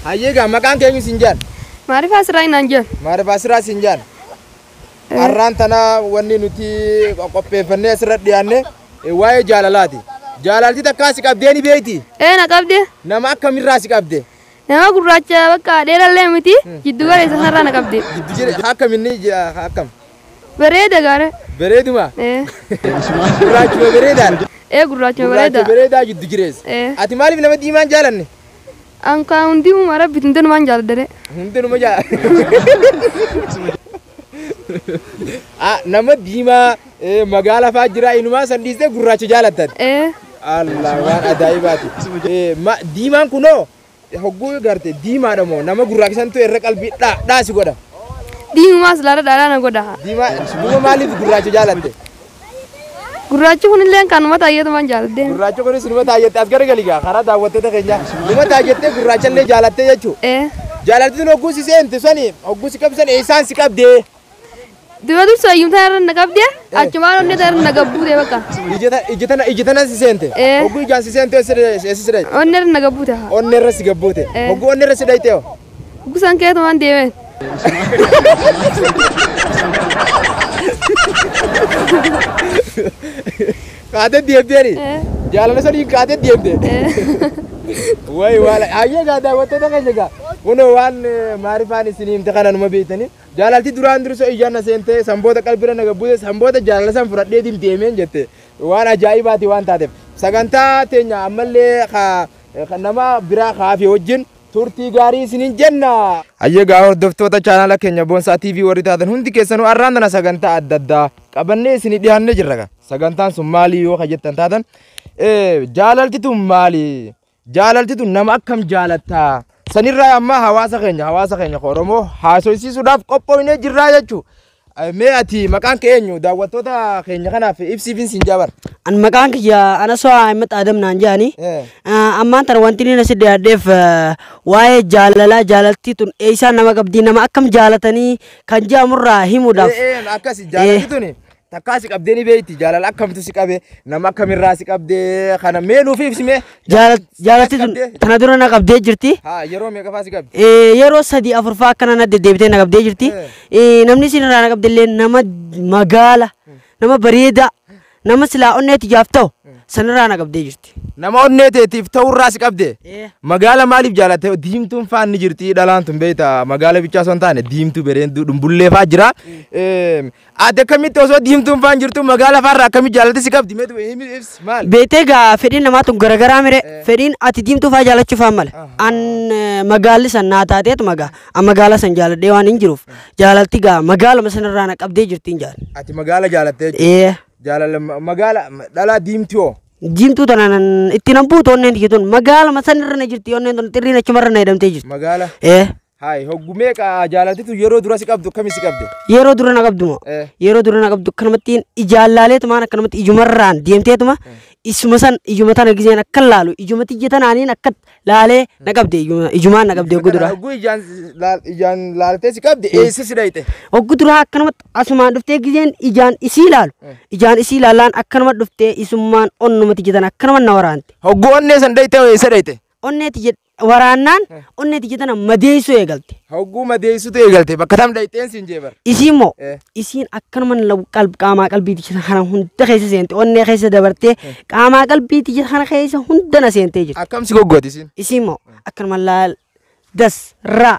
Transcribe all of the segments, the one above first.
Hayyee gaa maqaan keenyu siin jaan. Maarifaa siraa inaan jaan. Maarifaa siraa siin jaan. Har'aan tana wanni nuti qopheeffannee asirra dhiyaanne waa'ee jaalalaati. Jaalalti takkaa si qabdee ni beeyti. Ee na qabde. Nama akkamirraa si qabde? Nama gurraacha bakka dheerallee miti jiddu galeessa sanarraa na qabde. Jiddu galeessa akkaminni akkam? Bareeda gaara. Bareeduma? Ee. Gurraachuma bareedaadha. Ee gurraachuma bareeda. Gurraacha bareedaa jiddu jireessa. Ee. Ati maaliif nama diimaa hin jaalanne? An kaa hundi uuma rabbiiti hundanumaan jaaladhare. Hundanuma jaa. Ah, Nama diimaa eh, magaala fa'aa jira inumaa san dhiistee gurraacha jaalattan. Ee. Allah waan ajaa'ibaati. Eh, ma- Diimaan kunoo Hogguu garte diimaadha moo nama gurraachisantu irra qalbii dhaa dhaa si godha. Diimumaa silaadha dhaadhaa na godha. Diimaa duuba maaliif gurraacha jaalatte? Gurraachi kunillee kan uummata ayyatumaan jaaladde. Gurraachi kunis numa taayyatte as garagali gaa karaa daawwattoota keenyaa numa taayyattee gurraachallee jaalattee jechuu. Ee. Jaalaltiin hogguu si seente sani hogguu si qabsan eessaan si qabdee? Dura dursa ayyuun tana irra na qabde achumaan onnee tana irra na gabbuute bakka. Ija tana ija tana si seente. Eh. Hogguu ijaan si seente eessa dhayte? Onnee irra na gabbuute haa. Onnee irra si gabbuute. Eh. Hogguu onnee irra si dhayte hoo? Gusan keetu waan deemeen. Kaatee deemteeni. Eh. Jaalala saniin kaatee deemte. Wayi waala ayyee gaa daawwattoota keenya gaa. Kunoo waan eh, maarifaan isin himte kana numa beektanii Jaalalti duraan dursa ijaan na seentee, san booda qalbirra na gabbute, san booda jaalala san fudhadheetiin deemeen jette waan ajaa'ibaati waan taateef sagantaa teenya ammallee ka ka nama biraa ka hafe wajjin turtii gaarii isinin jenna. Hayyee gaa hordoftoota chaanaala keenya Boonsaa TV warri taatan hundi keessanuu har'aan tana sagantaa adda addaa qabannee isinii dhiyaannee jirra gaa. Sagantaan sun maali yoo ka jettan taatan eh, jaalalti tun maali? Jaalalti tun nama akkam jaalatta? Sanirraa ammaa hawaasa keenya hawaasa keenya ka Oromoo haasoysiisuudhaaf qophoofnee jirraa jechuu. Mee ati maqaan kee eenyu? Daawwattoota keenya kanaaf ibsiifin siin jaabar. An maqaan kiyya Anasoo Ahimad Adam naan jedhani. Eh. Ah, Ammaan tana wanti inni nasi dhiyaadheef ah, waa'ee jaalalaa jaalaltii tun eessaa nama qabdii nama akkam jaalatanii kan jedhamurraa himuudhaaf. Eh, eh, Akkasi jaalalti tuni Takkaa si qabdee ni beekti jaalala akkamtu si qabe nama akkamirraa si qabdee kana mee nuuf ibsime. Jaalatti tun tana dura na qabdee jirti. Haa yeroo meeqafaa si qabdi? Eh, Yeroo sadii afurfaa akkana na deddeebitee na qabdee jirti. Eh. Eh, Namni isin irraa na qabdellee nama magaala, nama bareedaa, nama silaa onneetti jaaf ta'u sanirraa na qabdee jirti. Nama onnee teetiif ta'urraa si qabde. Eh. Magaala maaliif jaalatte? Diimtuun faan ni jirti dhalaan tun beekta. Magaala bichaa osoo hin taane diimtuu bereenduu dhumbullee faa jira. Eh, Aadde akkamitti osoo diimtuun faan jirtu magaala faarra akkamitti jaalatti si qabdi mee du'e himi ibsi maal? Beektee gaa fedhiin namaa tun garagaraa mire fedhiin ati diimtuu faa jaalachuu faa male. An eh, magaalli san naa taateetu magaa an magaala san jaaladhee waan hin jiruuf jaalalti gaa magaaluma sanirraa na qabdee jirti hin jaalan. Ati magaala jaalattee jirti. Ee Jaalala ma- magaala ma- dhalaa diimtuu hoo? diimtuu tana nan itti nan buutu onneen tiyya tun magaaluma sanirra na jirti onneen tun xirriin achumarra na hidhamtee jirti. Magaala Ee Haay hoggu meeqa jaalatitu yeroo dura si qabdu akkami si qabde? Yeroo dura na qabdu moo? Eh. Yeroo dura na qabdu akkanumattiin ijaan laaleetumaan akkanumatti ijumarraan deemteetuma isuma san ijuma tana gizeen akkan laalu ijuma tiyya tanaaniin akka laalee na qabde ijuma- ijumaan na qabde oggu dura. Hogguu ijaan laal- ijaan laaltee si qabde eessa si dhayxe? Oggu dura akkanumatti asumaan dhuftee gizeen ijaan isii laalu ijaan isii laalaan akkanuma dhuftee isummaan onnuma tiyya tana akkanuma na waraante. Hogguu onnee san dhayxe eessa dhayxe? Onnee tiyya waraannaan onnee tiyya tana madeessuu eegalte. Hogguu madeessutu eegalte bakka tam dhayxeen siin jeebar. Isiin moo Eh. isiin akkanuma law- qalb- qaamaa qalbii tiyya kana hunda keessa seente onnee keessa dabartee qaamaa qalbii tiyya kana keessa hunda na seentee jirti. Akkam si goggooti siin? Isiin moo akkanuma laal das raa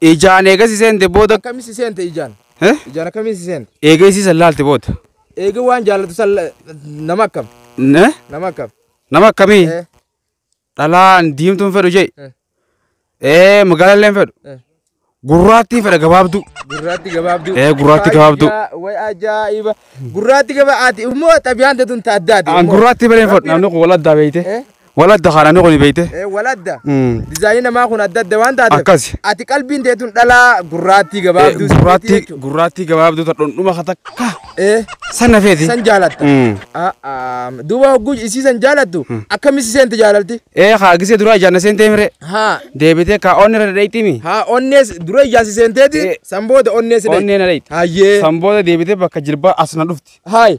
Ijaan eega si seente booda. Akkami si seente ijaan? Eh? Ijaan akkami si seente? Eega isii san laalte booda. Eega waan jaallatu san la- nama akkam? Ne? Nama akkam? Nama akkamii? Eh, Dhalaan diimtuun fedhu jee. Eh. Ee magaalallee hin fedhu. eh. Gurraattii fedha gabaabduu. Gurraatti gabaabduu. Eh, gurraatti gabaabduu. Fayyaa, Way ajaa'iba. Gurraatti gaba ati immoo xabiyaan teetuun ta addaati. Aan gurraattii balee hin fedhu. Namni kun wal addaa beeyte. Eh? Wal adda kaa namni kuni beeyte. Eh, wal adda. Mm. Dizaayinii namaa kun adda adda waan taateef. Akkasi. Ati qalbiin teetun dhalaa gurraattii gabaabduu sibiitii Gurraattii jechuudha. gurraattii gabaabduu ta dhundhuma ka takka Eh, sana feeti. san jaalatta. Mm. Ah, ah, Duuba hogguu isii san jaalattu akkamitti seenti jaalalti? Ee kaa gisee duraa ijaanna seentee mire Haa. deebitee kaa onni irra dhadheettimi. Haa onnees dura ijaansi seenteeti Eh. san booda onnees Onnee na dhayxi. Hayyee. San booda deebitee bakka jilbaa as na dhufti. Haay.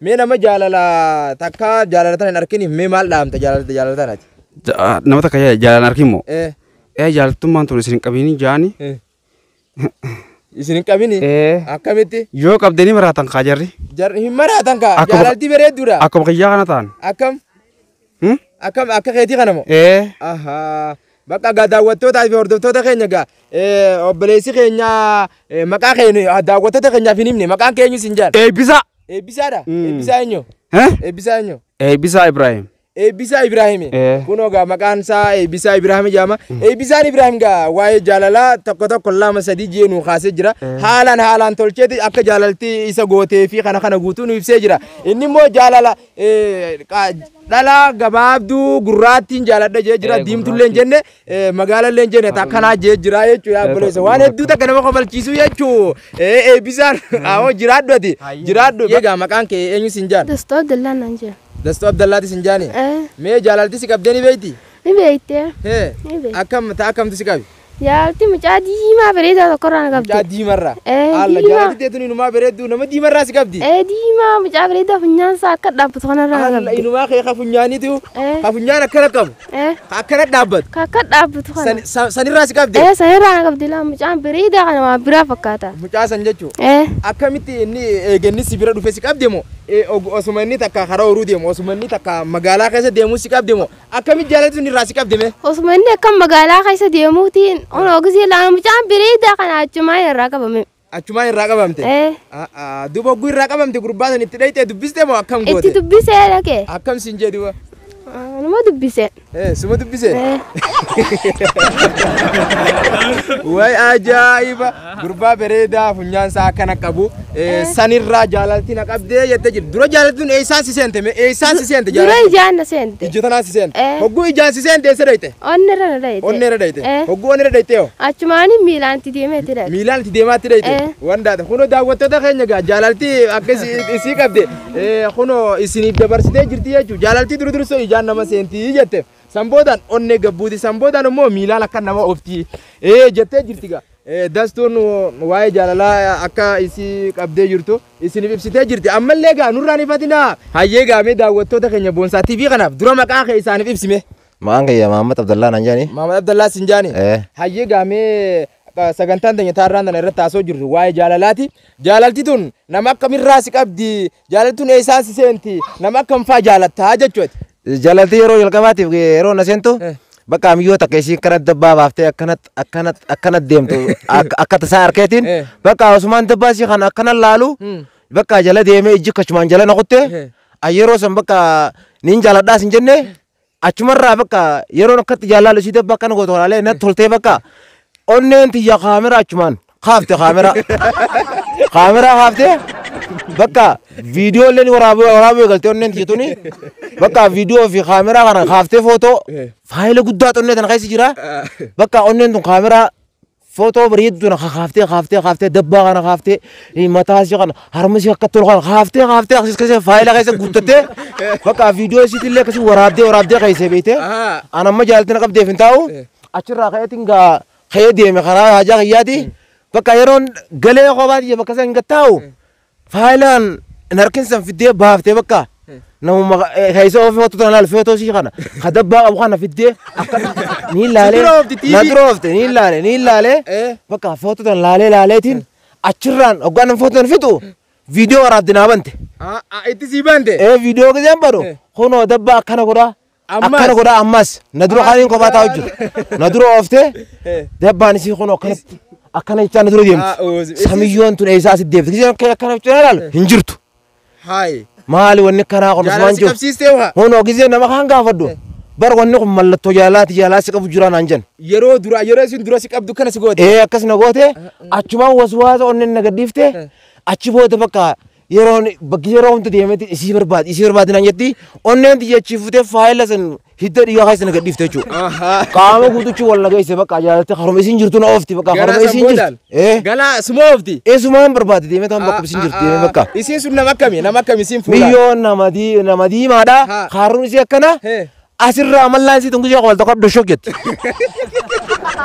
Mee nama jaalala takka jaalala tana hin arkiniif mee maal dhaamta jaalala jaalala tanati? Ja- Nama takka ja- jaalaan arkin moo? Eh, Ee jaalattummaan tun isin hin qabini jaani. eh. Isin hin qabini? Ee Akkamitti? yoo qabdanii maraatan kaa jarri. Jarri hin maraatan kaa Akkuma- jaalalti bareedduudha. Akkuma kiyyaa kana ta'an. Akkam? Hmm? Akka akka keetii kana moo? Ee. Ahaa. Bakka gaa daawwattootaa fi hordoftoota keenya gaa eh, obboleessi keenya eh, maqaa keenya ah, daawwattoota keenyaaf hin himne maqaan keenya isin jaan. Eebbisaa. Eebbisaadha. Mm. Eebbisaa eenyu? Eh? Eebbisaa eenyu? Eebbisaa Ibraahim. Eebbisaa Ibraahimi. Eh. Kunoo gaa maqaan isaa Eebbisaa Ibraahimi jedhama. Eebbisaan Ibraahim gaa waa'ee jaalalaa tokko tokko lama sadii jee nuu kaasee jira. Haalaan haalaan tolcheeti akka jaalalti isa gootee fi kana kana guutuu nu ibsee jira. Inni immoo jaalala Dhalaa gabaabduu gurraattiin jaaladha jee jira diimtulleen jenne magaalalleen jenne takkanaa jee jira jechuu yaa obboleessa waan hedduu takka nama kofalchiisuu jechuu eebbisaan awoo jiraadhu ati jiraadhu egaa maqaan kee eenyu sin jaan Dastaa Abdallaa naan jira. dastuu abdallaati sin jaani Ee, mee jaalalti si qabdee ni beeyti ni beektee? hee Ni beekti. akkam ta akkamtu si qabi Yaa itti mucaa diimaa bareedaa tokkorraa na qabde. Mucaa diimarraa. Ee, Alla diimaa. jaalatti teetu inumaa bareedduu nama diimarraa si qabdi. Ee diimaa mucaa bareedaa funyaansaa akka dhaabbatu kanarraa na Alla qabde. inumaa kee ka funyaaniitu Ee. ka funyaan akkana qabu Ee ka akkana dhaabbatu ka akka dhaabbatu kana. san- san- sanirraa si qabdi. Ee sanirraa na qabde laa mucaan bareedaa kana waan biraa fakkaata. Mucaa san jechuu Ee akkamitti inni eeganni si bira dhufe si qabde moo Eh, og- osuma inni takka karaa horuu deemu osuma inni takka magaalaa keessa deemu si qabde moo Akkamitti jaalalli tun irraa si qabde mee? Osuma inni akka magaalaa keessa deemuutiin onoo gisee laana mucaan bireedaa kana achumaan irraa qabame. Achumaan irraa qabamte? Eh. Ah, ah, Duuba hogguu irraa qabamte gurbaa san itti dhayxee dubbiste moo akkam Itti goote? dubbisee dhaqe. Akkam siin jee duuba? Anuma dubbise. Eh, suma dubbise? Eh. Way ajaa'iba! Gurbaa bareedaa funyaan isaa akkana qabu sanirraa jaalalti na qabdee jette jirti. Dura jaalaltuun eessaan si seente mee eessaan si seente Dura jaalaltuun? ijaan na seente. Ija tanaan si seente. Eh. Hogguu ijaan si seente eessa dhayite? Onni irra na dhayite. Onni irra dhayite. Eh. Hogguu onni irra dhayite hoo? Achumaanii miilaan itti deemee itti dhaqe. Miilaan itti deemaa itti dhayite. Eh. Waan daata. Kunoo daawwattoota keenya gaa jaalalti akka isi- isii qabde eh, kunoo isiniif dabarsitee jirti jechuudha. Jaalalti duru dursoo ijaan nama seenti jetteef. San boodaan onnee gabbuuti. San boodaan immoo miilaan akka nama ofti. Ee jettee jirti gaa. Ee, Dastuun waa'ee jaalalaa akka isii qabdee jirtu isiniif ibsitee jirti. Ammallee gaa nurraan ifatinaa. Hayyee gaa mee daawwattoota keenya Boonsaa TV kanaaf dura maqaa kee isaaniif ibsime. Maqaan kiyya Mahammad Abdallaa naan jedhani. Maamad Abdallaa siin jaani. Ee. Hayyee gaa mee qa- sagantaan teenya taarraan tana irratti haasoo jirru waa'ee jaalalaati. Jaalalti tun nama akkamirraa si qabdi? Jaalattuun eessaa si seenti? Nama akkam faa jaalattaa jechuu ati? Jaalalti yeroo jalqabaatiif yeroo na seentu Eh. bakka miyyoo takka ishii akkana dabbaa baaftee akkanat akkanat akkanat deemtu ak- akka tasaa harkeetiin Eh. bakka Usmaan dabbaa ishii kana akkana laalu Hmm. bakka jala deemee ijji kachumaan jala na kutte Eh. a yeroo san bakka niin jaaladhaa sin jenne Achumarraa bakka yeroon akkatti jaalaalu isii dabba akkana gootu kanaalee natti toltee bakka onneen tiyya kaameraa achumaan kaafte kaameraa. Kaameraa kaafte bakka viidiyoo illee waraabuu waraabuu eegalte onneen tiyya tuni bakka viidiyoo fi kaameraa kana kaaftee footoo faayila guddaa onnee tana keessa jira bakka onneen tun kaameraa Footoo bareedduu na kaaftee kaaftee kaaftee dabbaa kana kaaftee eh, mataa ishee kana harma ishee akka tolu kana kaaftee kaaftee akkasii keessa faayila keessa guuttattee bakka viidiyoo isiitti illee akkasii waraabdee waraabdee keessee beektee Ahaa. an amma jaalatti na qabdeef hin taa'u Eh. achirraa ka'eetiin gaa ka'ee deeme karaa haajaa kiyyaati bakka yeroon galee kophaa tiyya bakka sana hin gattaa'u Faayilaan hin harkin san fiddee baaftee bakka namuma keessa ofii hotu tana laal feetoo ishii kana ka dabbaa qabu kana fiddee akka ni laalee na dura oofte ni laalee ni laalee bakka feetu tana laalee laaleetiin achirraan hoggaan nama feetu tana fixu viidiyoo waraabde naa bante. Itti sii bante. Ee viidiyoo giseen badu kunoo dabbaa akkana godhaa Akkana godhaa ammas na dura kaaniin kophaa taa'u jiru. Na dura ooftee dabbaan isii kun akkanatti akkana jechaa na dura deemti. Samiyyoon tun eessaa asitti deemti. Giseen kee akkana jechuun ilaalu hin jirtu. Haay. Maali wanni kanaa kun Jaalala Usmaan si jiru. qabsiistee waa. Hunoo giseen nama kaan gaafadhu. Bar wanni kun mallattoo jaalaati jaalaa si qabu jiraa naan jenna. Yeroo dura yeroo isin dura si qabdu kana si goote. Ee akkas na goote achumaan waswaasa onneen na gadhiifte achi booda bakka yeroon bakki yeroo hunda deemetti isii barbaadi isii barbaadi naan jetti onneen xiyyachi futee faayila san hidda dhiigaa keessa na gadhiifte jechuudha. Qaama guutuchi wal nageesse bakka jaalatte haruma isiin jirtu na oofti bakka Gara haruma san isiin boodaan. jirtu. Eh Galaa suma oofti. eesumaan barbaadi deemee taan bakka isiin jirtu deemee bakka. Isiin sun nama akkami? Nama akkami isiin fuula? Miyyoo nama dii- nama diimaadha. Ha. Kaarruun isii akkana. He. Asirraa mallaan isii tun gishee koolta qabdu shok jette.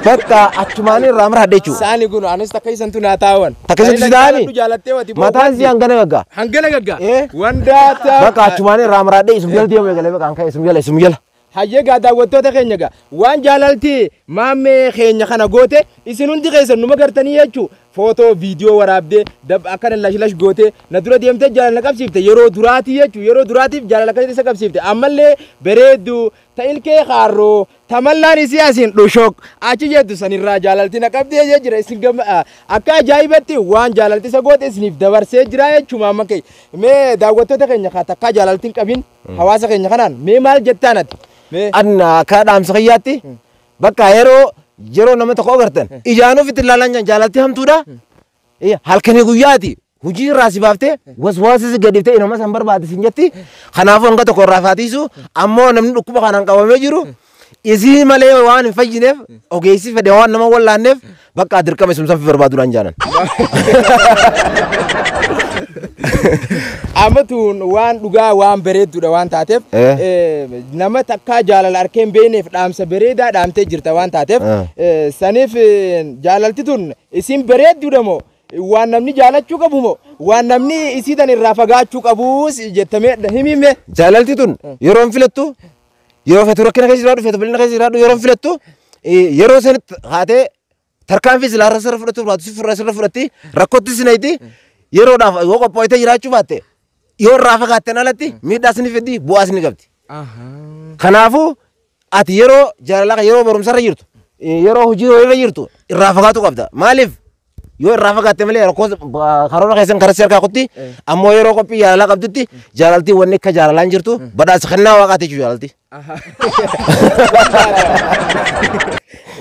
Bakka achumaan irraa mara hadhe jechuudha. Saani kun anis takka isan tun haa taa'an. Takka isan tun taa'ani? Jaalattee wati. Mataan isii hangana gaggaa. Hangana gaggaa. Eh? Wandaa taa'u. Bakka achumaan irraa mara hadhe isum jala deemu eegalee bakka hankaa isum jala isum jala. Hayyee gaa daawwattoota keenya gaa waan jaalalti maammee keenya kana goote isin hundi keessan numa gartanii jechuu Footoo, viidiyoo waraabdee, dab akkana lash lash gootee, na dura deemtee jaalala na qabsiifte, yeroo duraatii jechuun yeroo duraatiif jaalala akkasitti isa qabsiifte, ammallee bareedduu, ta ilkee kaarroo, ta mallaan isii asiin dhushoq achi jettu sanirraa jaalalti na qabdee jee jira isin gamma a- akka ajaa'ibatti waan jaalalti isa goote isiniif dabarsee jira jechuuma amma kee mee daawwattoota keenya kaa takkaa jaalalti hin qabin hawaasa keenya kanaan mee maal jettaan ati mee Anna akka dhaamsa kiyyaatti Bakka yeroo yeroo nama tokko agartan ijaan ofitti ilaalan jaan jaalatti hamtuudha. Eh, Halkanii guyyaati hojii irraa si baaftee waswaasa si gadiftee inuma san barbaade sin jetti. Kanaafuu hanga tokko irraa faatiisu ammoo namni dhukkuba kanaan qabamee jiru isii malee waan hin fayyineef ogeessi fedhe waan nama wallaanneef Bakka dirqama isum sanfi barbaadu naan jaanan. Amatuun waan dhugaa waan bareedduudha waan taateef Eh. eh, nama takkaa jaalala arkeen beeneef dhaamsa bareedaa dhaamtee jirta waan taateef Eh. eh, saniif eh, jaalalti tun isin bareedduudha moo waan namni jaalachuu qabu moo waan namni isiitan irraa fagaachuu qabu jettamee himimme Jaalalti tun yeroon filattu Yeroo feetu rakkina keessa jiraadhu, feetu bal'ina keessa jiraadhu, yeroo filattu yeroo sanitti haatee tarkaanfii silaa irra sirra fudhachuu baatu si furra sirra fudhatti rakkootti si nayti yeroodhaaf yoo qophoitee jiraachuu baatte yoo irraa fagaatten alatti miidhaas ni fiddi bu'aas ni qabdi. Kanaafuu ati yeroo jaalalaa yeroo barumsarra jirtu yeroo hojii irra jirtu irraa fagaatu qabda. Maaliif Yoo irraa fagaatte malee rakkoo karoora keessan karatti harkaa kutti ammoo yeroo qophii jaalalaa qabdutti jaalaltii wanni akka jaalalaa hin jirtu badhaasa kennaa waaqaati jechuudha jaalaltii.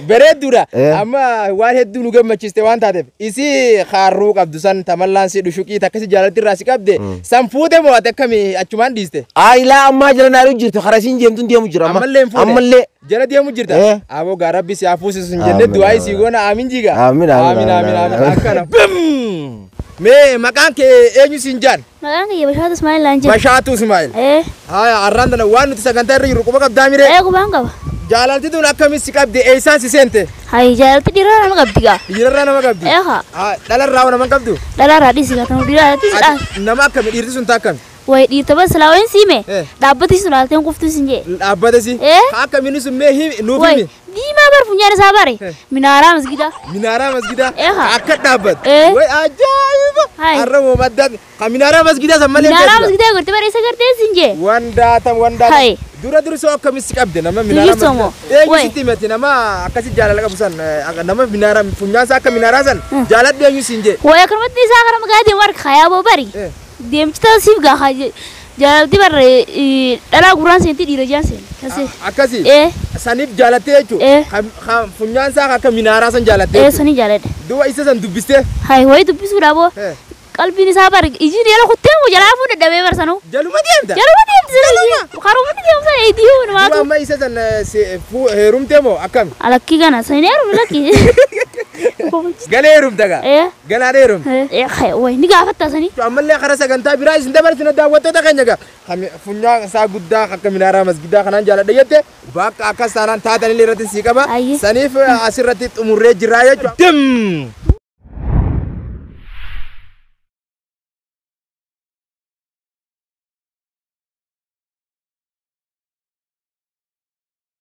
Bareedduudha. Eh. Amma waan hedduu nu gammachiiste waan taateef isii kaarruu qabdu san tamallaan si dhushuqii takkasi jaalalti irraa si qabde san fuute moo ati akkami achumaan dhiiste. Aayilaa ammaa jala naaru jirtu karaa isiin jeemtuun deemu jira amma. Ammallee hin fuune. Ammallee. Jala deemu jirta. Eh. Aboo gaa rabbi si haa fuusisu hin jenne Amiin, du'aa isii amiin. goona aamin jiga. Amiin, amiin, amiin, amiin. Akkana. Bim! Mee maqaan kee eenyu siin jaan? Maqaan kiyya Bashaatu Ismaa'il Laan jedhama. Bashaatu Ismaa'il. Ee, Haaya har'aan tana waan nuti sagantaa irra jirru quba qabdaa miree. ee qubaan qaba. Jaalalti tun akkamiin si qabde eessaan si seente? Hayi jaalalti dhiiraa nama qabdi gaa. Dhiirarraa nama qabdi. Ee haa, Haa, Dhalarraa nama hin qabdu. dhalaarraa dhiisi gaa kan dhiiraarratti si dhaala. Ati Nama akkami dhiirti sun taa akkami? Wayi dhiirta bar silaa wayin sii mee Eh. dhaabbati sun haalteen kuftuu sin jee. Hin dhaabbate si. Eh? Ka akka mini sun mee himi nuuf Wayi himi. diimaa bar funyaan isaa bare Eh. minaaraa masgidaa. Minaaraa masgidaa Eh, haa. akka dhaabbate. Eh. Way ajaa'iba. Hai. Har'a moo madda ka minaaraa masgidaa san malee Minaaraa beekna. masgidaa gorte bar isa gartee sin jee. Wandaatam wandaatam. Hai. Dura dursoo akkamitti qabde nama minaaraa Bilisoo moo? masgidaa. Eenyu Way. sitti himate nama akkasi jaalala qabu san eh, akka- nama minaaraa funyaan isaa akka minaaraa san jaaladhu eenyu siin jee. Wayi akkanumatti isaa gara magaalaa deemu harka kayaa boo bari. Eh. Deemcita siif gaa haa je- jaalalti barre eh, dhalaa gurraan seenti dhiira jaan seeni. Kan seeni. Akkasi. Eh. Sanif jaalattee jechuudha. Eh. Kan- Kan funyaan isaa akka minaaraa san jaalattee Eh, jechuudha. sanii jaaladhe. Duuba isa san dubbistee Hai, ho'i dubbisuudha boo. Eh. Qalbiin isaa bar ijiin jala kuttee moo jalaa fuudhe dhabee bar sanuu. jaluma deemta. Jaluma deemti sana ijiin. Karuma ni deemsa idiin Duuba namaatu. amma isa san eh, se- fu- heerumtee moo akkami? Alakkii kana sanii heerumi lakkii. Galee heerumta gaa. Eh. Ganaa dheerum. Way ni gaafattaa sanii. Ammallee karaa sagantaa biraa isin dabarsina daawwattoota keenya gaa. Kan funyaan isaa guddaa akka minaaraa masgidaa kanaan jaaladha jette bakka akkas taanaan taatan illee irratti sii qaba. Ayyi. Saniif eh, asirratti xumurree jirraa jechuudha. Dim!